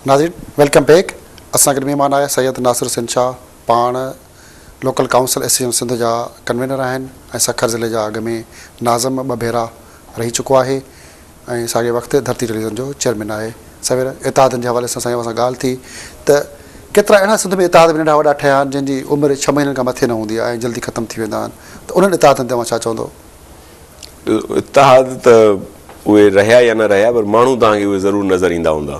ناظرين welcome back اسان گڏ مهمان آهي سيد ناصر حسين شاهه پاڻ لوڪل ڪائونسل ايسوسيشن سنڌ جا ڪنوينر آهن ۽ سکر ضلعي جا اڳ ۾ ناظم ٻه ڀيرا رهي چڪو آهي ۽ ساڳئي وقت ڌرتي ٽيليوزن جو چيئرمين آهي. سوير اتحادن جي حوالي سان سائين اوهان سان ڳالهه ٿي ته ڪيترا اهڙا سنڌ ۾ اتحاد به ننڍا وڏا ٺهيا آهن جن جي عمر ڇهه مهينن کان مٿي نه هوندي آهي ۽ جلدي ختم ٿي ويندا آهن ته انهن اتحادن تي اوهان ڇا چوندو؟ اتحاد ته اهي رهيا يا نه رهيا پر ماڻهو توهان کي اهي ضرور نظر ايندا هوندا.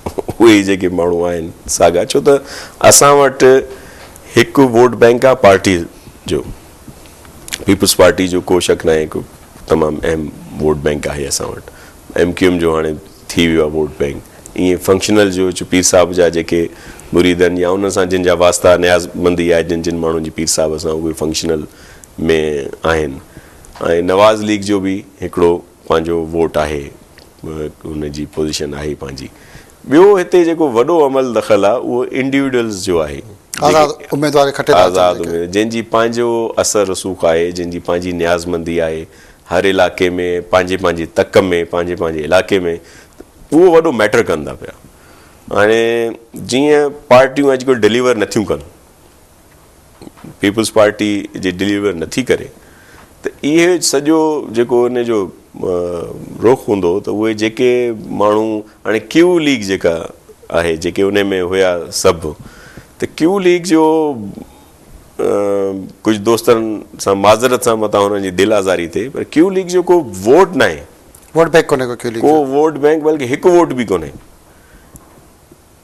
اهي ئي جيڪي ماڻهو آهن ساڳا ڇو ته اسان وٽ هڪ ووٽ بينڪ آهي پارٽي جو پيپلز پارٽي جو ڪو شڪ ناهي هڪ تمام اهم ووٽ بينڪ آهي اسان وٽ ايم ڪيو ايم جو هاڻي ٿي ويو آهي ووٽ بينڪ ائين فنڪشنل جو چ پير صاحب جا جيڪي مريد آهن يا انهن سان جن جا واسطا نياز مندي آهي جن جن ماڻهن جي پير صاحب سان اهي فنڪشنل ۾ آهن ۽ نواز ليگ جو به هڪڙو پنهنجو ووٽ آهي ان جي پوزيشن آهي پنهنجي ٻيو هتي جيڪو وڏو عمل دخل آهي اهو انڊيوڊلز جو آهي آزاد اميدوار کي کٽي ٿا اچن جن جي پنهنجو اثر رسوخ آهي جن جي پنهنجي نيازمندي آهي هر علائقي ۾ پنهنجي پنهنجي تڪ ۾ پنهنجي پنهنجي علائقي ۾ اهو وڏو ميٽر ڪن ٿا پيا هاڻي جيئن پارٽيون اڄڪلهه ڊليور نٿيون ڪن پيپلز پارٽي جي ڊليور نه ٿي ڪري ته اهي سڄو جيڪو ان جو رخ هوندو ته اهي جيڪي ماڻهو هاڻي ڪيو ليگ جيڪا آهي جيڪي ان ۾ هيا سڀ ته ڪيو ليگ جو ڪجهه دوستن سان معذرت سان متان هنن جي دل آزاري تي پر ڪيو ليگ جو ڪو ووٽ ناهي ووٽ بينڪ ڪونهي ڪو ڪيو ليگ ڪو ووٽ بينڪ بلڪه هڪ ووٽ به ڪونهي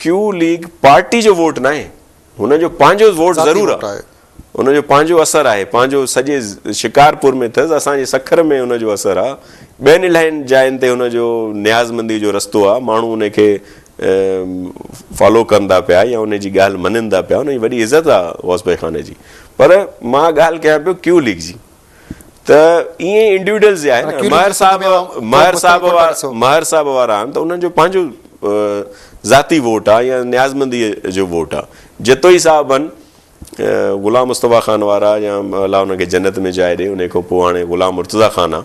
ڪيو ليگ پارٽي جو ووٽ ناهي، هن جو پنهنجو ووٽ ضرور آ، ان جو پنهنجو اثر آهي، پنهنجو سڄي شڪارپور ۾ اٿس، اسان جي سکر ۾ ان جو اثر آ، ٻين الاهين جاين تي ان جو نيازمندي جو رستو آ، ماڻهو ان کي فالو ڪن ٿا پيا يا ان جي ڳالهه مڃين ٿا پيا، ان جي وڏي عزت آ غوث بخانه جي، پر مان ڳالهه ڪيان پيو ڪيو ليگ جي. ته ائين انڊيوڊلز آهن ماهر صاحب ماهر صاحب ماهر صاحب وارا آهن ته انهن جو پنهنجو ذاتي ووٽ آهي يا نيازمندي جو ووٽ آهي جتوئي صاحب آهن غلام مصطفيٰ خان وارا يا الله انهن کي جنت ۾ جاء ڏي انهي کان پوء هاڻي غلام مرتضيٰ خان آهي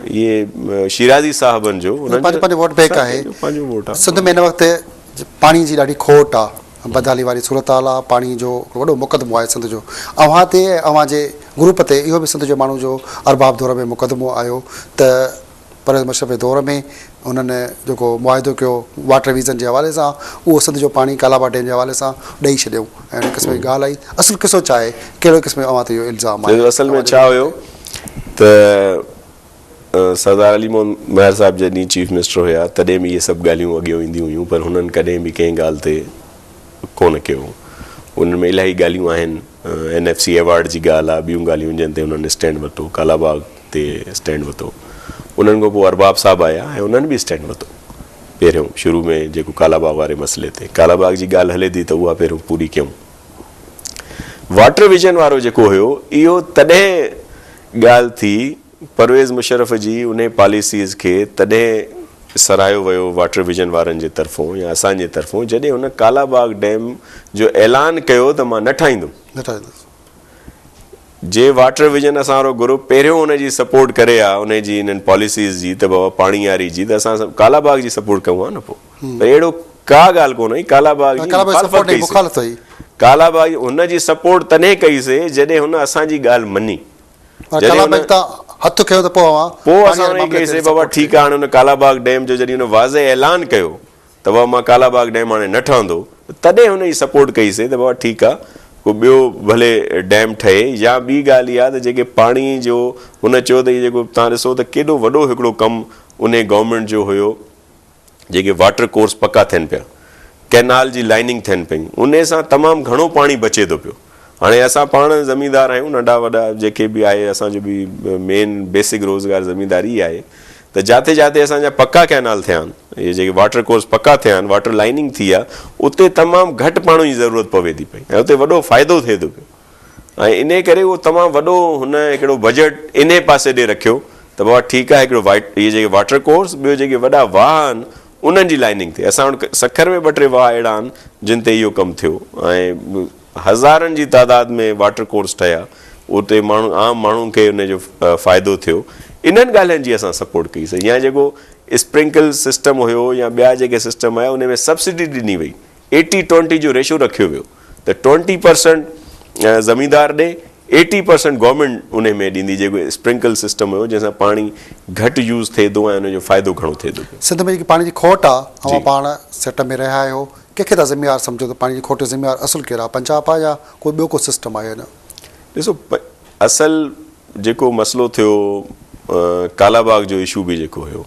اهي شيرازي صاحبن جو انهن جو پنهنجو ووٽ بينڪ آهي سنڌ ۾ هن وقت پاڻي جي ڏاڍي کوٽ آ بدحالي واري صورتحال آ پاڻي جو وڏو مقدمو آهي سنڌ جو اوهان تي ۽ اوهان جي گروپ تي اهو به سنڌ جي ماڻهو جو ارباب دور ۾ مقدمو آيو ته پرويز مشرف جي دور ۾ هنن جيڪو معاهدو ڪيو واٽر ويزن جي حوالي سان اهو سنڌ جو پاڻي ڪالاباغ ڊيم جي حوالي سان ڏئي ڇڏيائون ۽ ان قسم جي ڳالهه آئي اصل قصو ڇا آهي ڪهڙو قسم جو اوهان تي اهو الزام آهي سائين اصل ۾ ڇا هيو ته سردار علي محمد مهر صاحب جڏهن چيف منسٽر هيا تڏهن به اهي سڀ ڳالهيون اڳيئو اينديون هيون پر هنن ڪڏهن به ڪنهن ڳالهه تي ڪونه ڪيو انهن ۾ الاهي ڳالهيون آهن اين ايف سي ايوارڊ جي ڳالهه آهي ٻيون ڳالهيون جن تي انهن اسٽينڊ ورتو ڪالاباغ تي اسٽينڊ وتو انهن کان پوء ارباب صاحب آيا ۽ انهن به اسٽينڊ وتو پهريون شروع ۾ جيڪو ڪالا باغ واري مسئلي تي ڪالا باغ جي ڳالهه هلي ٿي ته اها پهريون پوري ڪيون واٽر ويزن وارو جيڪو هيو اهو تڏهن ڳالهه ٿي پرويز مشرف جي انهي پاليسيز کي تڏهن سراهيو ويو واٽر ويزن وارن جي طرفون يا اسان جي طرفون جڏهن هن ڪالا باغ ڊيم جو اعلان ڪيو ته مان نه ٺاهيندم نه ٺاهيندس. جي واٽر ويزن اسان وارو گروپ پهريون ان جي سپورٽ ڪري ها انهي جي انهن پاليسيز جي ته بابا پاڻي واري جي ته اسان ڪالا باغ جي سپورٽ ڪيون ها نه پو ته اهڙو ڪا ڳالهه ڪونه هئي ڪالا باغ جي مخالفت ڪئي سي ڪالا باغ جي هن جي سپورٽ تڏهن ڪئي سي جڏهن هن اسان جي ڳالهه مني جڏهن هن هٿ کنيو ته پو اوهان پو اسان کي ڪئي سي بابا ٺيڪ آ هاڻي هن ڪالا باغ ڊيم جو جڏهن هن واضح اعلان ڪيو ته بابا مان ڪالا باغ ڊيم هاڻي نه ٺهندو ته تڏهن هن جي سپورٽ ڪئي سي ته بابا ٺيڪ آ ڪو ٻيو ڀلي ڊيم ٺهي يا ٻي ڳالهه اها ته جيڪي پاڻي جو هن چيو ته هي جيڪو توهان ڏسو ته ڪيڏو وڏو هڪڙو ڪم انهي گورنمينٽ جو هيو جيڪي واٽر ڪورس پڪا ٿين پيا ڪئنال جي لائننگ ٿين پيون انهي سان تمام گهڻو پاڻي بچي ٿو پيو. هاڻي اسان پاڻ زميندار آهيون ننڍا وڏا جيڪي به آهي اسان جو به مين بيسڪ روزگار زمينداري ئي آهي ته جاتي جاتي اسان جا پڪا ڪئنال ٿيا آهن اهي جيڪي واٽر ڪورس پڪا ٿيا آهن واٽر لائننگ ٿي آهي اتي تمام گهٽ پاڻي جي ضرورت پوي ٿي پئي ۽ اتي وڏو فائدو ٿئي ٿو پيو ۽ انهي ڪري اهو تمام وڏو هن هڪڙو بجيٽ انهي پاسي ڏي رکيو ته بابا ٺيڪ آهي هڪڙو اهي جيڪي واٽر ڪورس ٻيو جيڪي وڏا واهه آهن انهن جي لائننگ تي اسان وٽ سکر ۾ ٻه ٽي واهه اهڙا آهن جن تي اهو ڪم ٿيو ۽ هزارن جي تعداد ۾ واٽر ڪورس ٺهيا اتي ماڻهو عام ماڻهن کي ان جو فائدو ٿيو انهن ڳالهين جي اسان سپورٽ ڪئي سي يا جيڪو اسپرنڪل سسٽم هيو يا ٻيا جيڪي سسٽم هيا انهن ۾ سبسڊي ڏني وئي ايٽي ٽوئنٽي جو ريشو رکيو ويو ته ٽوئنٽي پرسنٽ زميندار ڏي ايٽي پرسنٽ گورنمينٽ ان ۾ ڏيندي جيڪو اسپرنڪل سسٽم هيو جنهن سان پاڻي گهٽ يوز ٿئي ٿو ۽ ان جو فائدو گهڻو ٿئي ٿو پيو. سنڌ ۾ جيڪي پاڻي جي کوٽ آ اوهان پاڻ سٽ ۾ رهيا آهيو ڪنهن کي تها ذميوار سمجهو ته پاڻي جي کوٽ جو ذميوار اصل ڪير آ پنجاب آ يا ڪو ٻيو ڪو سسٽم آ يا نه. ڏسو اصل جيڪو مسئلو ٿيو ڪالاباغ جو اشو به جيڪو هيو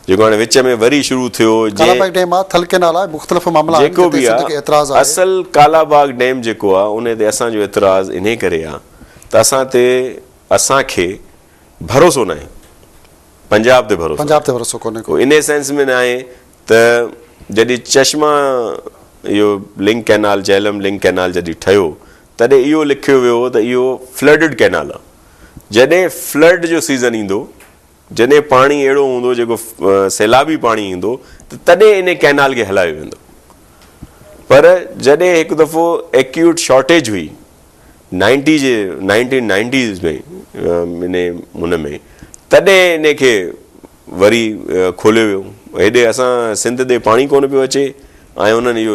جيڪو هاڻي وچ ۾ وري شروع ٿيو ڪالاباغ ڊيم آ ٿل ڪينال آ مختلف معاملا آهن جيڪو به آ اصل ڪالاباغ ڊيم جيڪو آ ان تي اسان جو اعتراض انهي ڪري آ ته اسان تي اسان کي ڀروسو ناهي پنجاب تي ڀروسو پنجاب تي ڀروسو ڪونهي ڪو انهي سينس ۾ ناهي ته جڏي چشما اهو link canal Jhelum link canal جڏي ٺهيو تڏهن اهو لکيو ويو هو ته اهو فلڊڊ ڪئنال آهي جڏهن فلڊ جو سيزن ايندو جڏهن پاڻي اهڙو هوندو جيڪو سيلابي پاڻي ايندو ته تڏهن انهي ڪئنال کي هلايو ويندو پر جڏهن هڪ دفعو ايڪيوٽ شارٽيج هئي نائنٽي جي نائنٽين نائنٽيز ۾ انهي هن ۾ تڏهن انهي کي وري کوليو ويو هيڏي اسان سنڌ ڏي پاڻي ڪونه پيو اچي ۽ انهن اهو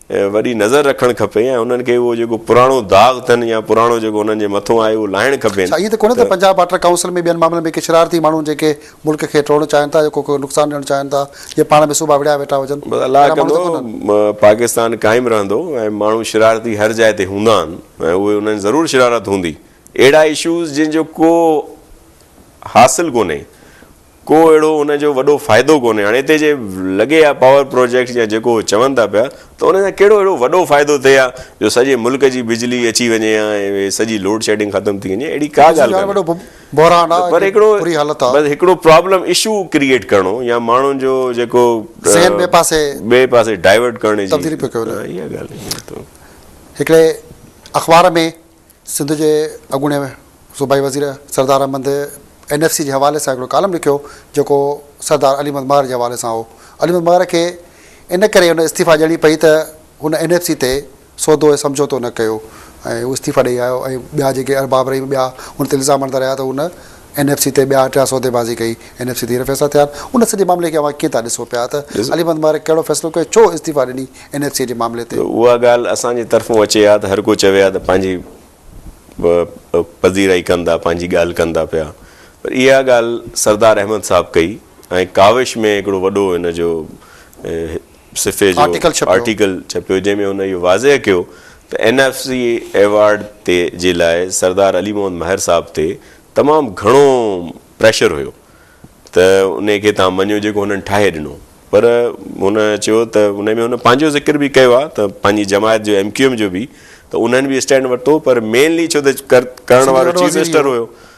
وڏي نظر رکڻ کپي ۽ انهن کي اهو جيڪو پراڻو داغ ٿن يا پراڻو جيڪو انهن جي مٿون آهي اهو لاهڻ کپين. ڇا ائين ته ڪونهي ته پنجاب واٽر ڪائونسل ۾ ٻين معاملن ۾ ڪي شرارتي ماڻهو جيڪي ملڪ کي ٽوڙڻ چاهين ٿا يا ڪو ڪو نقصان ڏيڻ چاهين ٿا جي پاڻ ۾ صوبا وڙهيا ويٺا هجن بس الله اهڙا ماڻهو ته ڪنڌو ڪونهن. پاڪستان قائم رهندو ۽ ماڻهو شرارتي هر جاء تي هوندا آهن ۽ اهي انهن ضرور شرارت هوندي اهڙا اشوز جن جو ڪو حاصل ڪونهي ڪو اهڙو ان جو وڏو فائدو ڪونهي. هاڻي هتي جي لڳي اها پاور پروجيڪٽس يا جيڪو اهي چون ٿا پيا ته ان سان ڪهڙو اهڙو وڏو فائدو ٿئي ها جو سڄي ملڪ جي بجلي اچي وڃي ها ۽ سڄي لوڊ شيڊنگ ختم ٿي وڃي اهڙي ڪا ڳالهه ڪانهي پر هڪڙو بس هڪڙو پرابلم اشو ڪريئيٽ ڪرڻو يا ماڻهن جو جيڪو ذهن ٻئي پاسي ٻئي پاسي ڊائيورٽ ڪرڻ جي تبديلي پيو ڪيو وڃي اها ڳالهه هڪڙي اخبار ۾ سنڌ جي اڳوڻي صوبائي وزير Sardar Ahmed N F C جي حوالي سان هڪڙو ڪالم لکيو جيڪو سردار علي محمد مهر جي حوالي سان هو. علي محمد مهر کي ان ڪري ان استعيفا ڏيڻي پئي ته هن اين ايف سي تي سودو ۽ سمجهوتو نه ڪيو ۽ هو استعيفا ڏئي آيو ۽ ٻيا جيڪي ارباب رحيم ٻيا هن تي الزام هڻندا رهيا ته هن اين ايف سي تي ٻيا ٽيا سوديبازي ڪئي، اين ايف سي تي هينئر فيصلا ٿيا آهن، ان سڄي معاملي کي اوهان ڪيئن ٿا ڏسو پيا ته علي محمد مبارڪ ڪهڙو فيصلو ڪيو، ڇو استعيفا ڏني اين ايف سي جي معاملي تي؟ اها ڳالهه اسان جي طرفون اچي ها ته هر ڪو چوي ها ته پنهنجي پذيرائي ڪن ٿا، پنهنجي ڳالهه ڪن ٿا پيا پر اها ڳالهه سردار احمد صاحب ڪئي ۽ ڪاوش ۾ هڪڙو وڏو ان جو صفحي جو آرٽيڪل ڇپيو جنهن ۾ هن اهو واضح ڪيو ته اين ايف سي ايوارڊ تي جي لاء سردار علي محمد مهر صاحب تي تمام گهڻو پريشر هيو ته انهي کي تهان مڃيو جيڪو هنن ٺاهي ڏنو پر هن چيو ته انهي ۾ هن پنهنجو ذڪر به ڪيو آهي ته پنهنجي جماعت جو ايم ڪيو ايم جو به ته انهن به اسٽينڊ ورتو پر مينلي ڇو ته ڪرڻ وارو چيف منسٽر هيو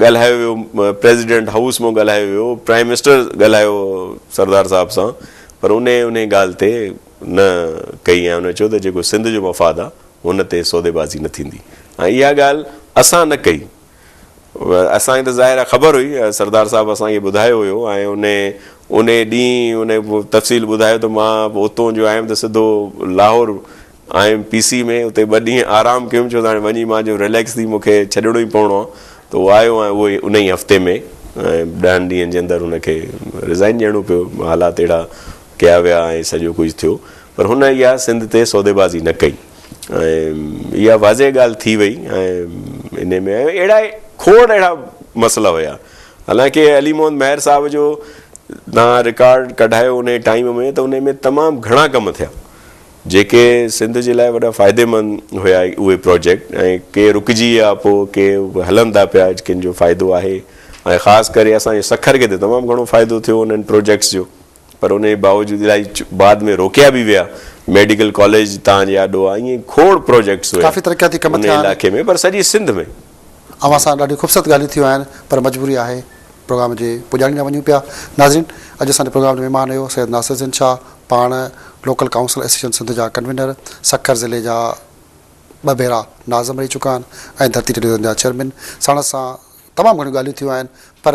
ڳالهايو ويو پريزيڊنٽ هائوس مان ڳالهايو ويو پرائيم منسٽر ڳالهايو سردار صاحب سان پر انهي انهي ڳالهه تي نه ڪئي ۽ انهن چيو ته جيڪو سنڌ جو مفاد آ ان تي سوديبازي نه ٿيندي ۽ اها ڳالهه اسان نه ڪئي اسان کي ته ظاهر آ خبر هئي سردار صاحب اسان کي ٻڌايو هيو ۽ انهي انهي ڏينهن انهي تفصيل ٻڌايو ته مان اتون جو آيم ته سڌو Lahore I M P C ۾ اتي ٻه ڏينهن آرام ڪيم ڇو ته هاڻي وڃي مان چيم رليڪس ٿي مون کي ڇڏڻو ئي پوڻو آ ته هو آيو ۽ اهو ئي ان ئي هفتي ۾ ڏهن ڏينهن جي اندر هن کي رزائن ڏيڻو پيو حالات اهڙا ڪيا ويا ۽ سڄو ڪجهه ٿيو پر هن اها سنڌ تي سوديبازي نه ڪئي ۽ اها واضح ڳالهه ٿي وئي ۽ ان ۾ اهڙا کوڙ اهڙا مسئلا هيا حالانڪه علي محمد مهر صاحب جو تان رڪارڊ ڪڍايو ان ٽائيم ۾ ته ان ۾ تمام گهڻا ڪم ٿيا جيڪي سنڌ جي لاء وڏا فائديمند هيا اهي پروجيڪٽ ۽ ڪي رڪجي ويا پوء ڪي هلن ٿا پيا ڪن جو فائدو آهي ۽ خاص ڪري اسان جي سکر کي ته تمام گهڻو فائدو ٿيو انهن پروجيڪٽس جو پر ان جي باوجود الائي بعد ۾ روڪيا به ويا ميڊيڪل ڪاليج تان جي آڏو آهي ائين کوڙ پروجيڪٽس هيا ان علائقي ۾ پر سڄي سنڌ ۾. اوهان سان ڏاڍيون خوبصورت ڳالهيون ٿيون آهن پر مجبوري آهي پروگرام جي پڄاڻي ڏانهن وڃون پيا ناظرين اڄ اسان جي پروگرام جو مهمان هيو سيد ناصر الدين شاهه پاڻ لوڪل ڪائونسل ايسوسيئيشن سنڌ جا ڪنوينر سکر ضلعي جا ٻه ڀيرا ناظم رهي چڪا آهن ۽ ڌرتي ٽيليوزن جا چيئرمين ساڻس سان تمام گهڻيون ڳالهيون ٿيون آهن پر